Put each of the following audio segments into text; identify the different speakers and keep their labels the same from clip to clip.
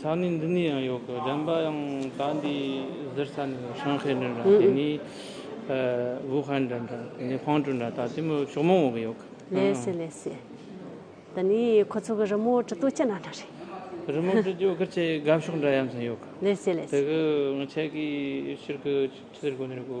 Speaker 1: ས་གནས་འདི་ནས་
Speaker 2: ཡང་ཡོད་གི་དྲན་པ་ཡང་ད་འདི་གཟིར་ས་ནས་ཡོད་ཧྲང་ཧའེ་འདྲ་འདྲ་དེ་ནས་ཝུ་ཧན་འདྲ་འདྲ་དེ་ནས་ཧྥང་ཀྲུའུ་འདྲ་ད་དེ་མོ་ཕྱོགས་མང་བོ་གི་ཡོད་གི་ལེ་སི་ལེ་སི།
Speaker 1: ད་ནི་ཁོ་ཚོ་གི་རི་མོ་བྲི་ཏོ་ཅི་ན་འདྲ་རེད། རི་མོ་བྲི་རྒྱུ་
Speaker 2: ཁེར་ཆེ་དགའ་ཕྱོགས་འདྲ་ཡ་མཚན་ཡོད་གི། ལེ་སི་ལེ་སི། དེ་གི་
Speaker 1: ངས་ཁྱེད་
Speaker 2: ཀྱི་ཕྱིར་གི་ཆིག་ཐེར་གོ་ནི་རེད་གོ།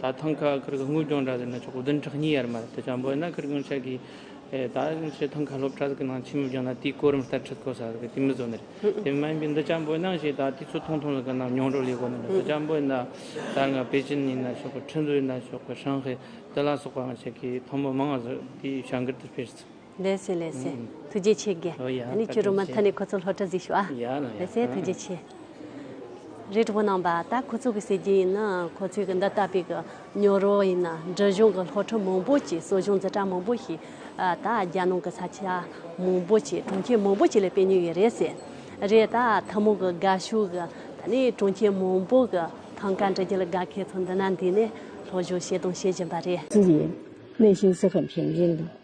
Speaker 2: ད་ཐང་ཁ་ཁུར་གི་དངུལ་སྦྱོང་གྲ་ཟི་ན་ཆོག་གོ་དོན་ཁྲག་སྙི་ཡར་མར་དེ་ཆ་འབོད་ན་ཁུར་གུང་ཆག་གི་ད་ཤི་ཐང་ཁ་སློབ་གྲ་ཟི་གི་ནང་ཆི་མི་སྦྱོང་ན་དེའི་གོ་རིམ་ལྟར་ཁྲི་ཁོ་ས་ཟི་གི་དེ་མི་བཟོ་ནི་རེད་དེ་མ་ཡིན་པའི་འདི་ཆ་འབོད་ན་ཤི་ད་དེ་ཚོ་ཐུང་ཐུང་ཟི་གི་ནང་མྱོང་རོ་ལས་གོ་ནི་རེད་དེ་ཆ་འབོད་ན་ད་རྔ་པེ་ཅིན་ཡིན་ན་ཆོག་གི་ཁྲི་འདུ་ཡིན་ན་ཆོག་གི་ཧྲང་ཧེ་ཏི་ལ་སོག་པ་ང་ཆ་གི་ཐང་པོ་མང་ཟི་དེའི་ཞང་ཀིར་དུ་སྤེལ་ཟི། ལེ་སེ་ལེ་སེ།
Speaker 1: ཐུགས་རྗེ་ཆེ་དགེ། ད་ནི་ཁྱོད་རུ་མ་མཐའ་ནས་ཁོ་ཚོ་སློབ་གྲྭ་གཟིགས་ཤོག་ཨ། ལེ་སེ་ཐུགས་རྗེ་ཆེ། རེ་དྲུག་པོ་ནང་པ་ད་ཁོ་ཚོ་གི་ཟེར་རྒྱུ་ཡིན་ན་ཁོ་ཚོས་གི་འདི་ལྟ་བུའི་གི་ཉོ་རོ་ཡིན་ན་འབྲི་གཞུང་གི་སློབ་ཕྲུག་མང་པོ་ཅིག་གསོ་སྦྱོང་འཛིན་གྲྭ་མང་པོ་ཞིག་ད་རྒྱ་ནང་གི་ས་ཆ་མང་པོ་ཅིག་གྲོང་ཁྱེར་མང་པོ་ཅིག་ལ་སྤེལ་ཉོས་ཡོད་རེད་ཟེར། རེད་ད་ཐུན་མོང་གི་དགའ་ཤོས་གི་ད་ནི་གྲོང་ཁྱེར་མང་པོ་གི་ཐང་ཀ་འབྲི་རྒྱུ་ལ་དགའ་མཁན་ཚོ་འདི་ན་འདུས་ནས་སློབ་སྦྱོང་བྱས་དང་བྱེད་བཞིན་པ་རེད། ཅི་ཡིན། གནས་གཞིའི་ས་ཁམས་ཞིང་ཆེན་དང།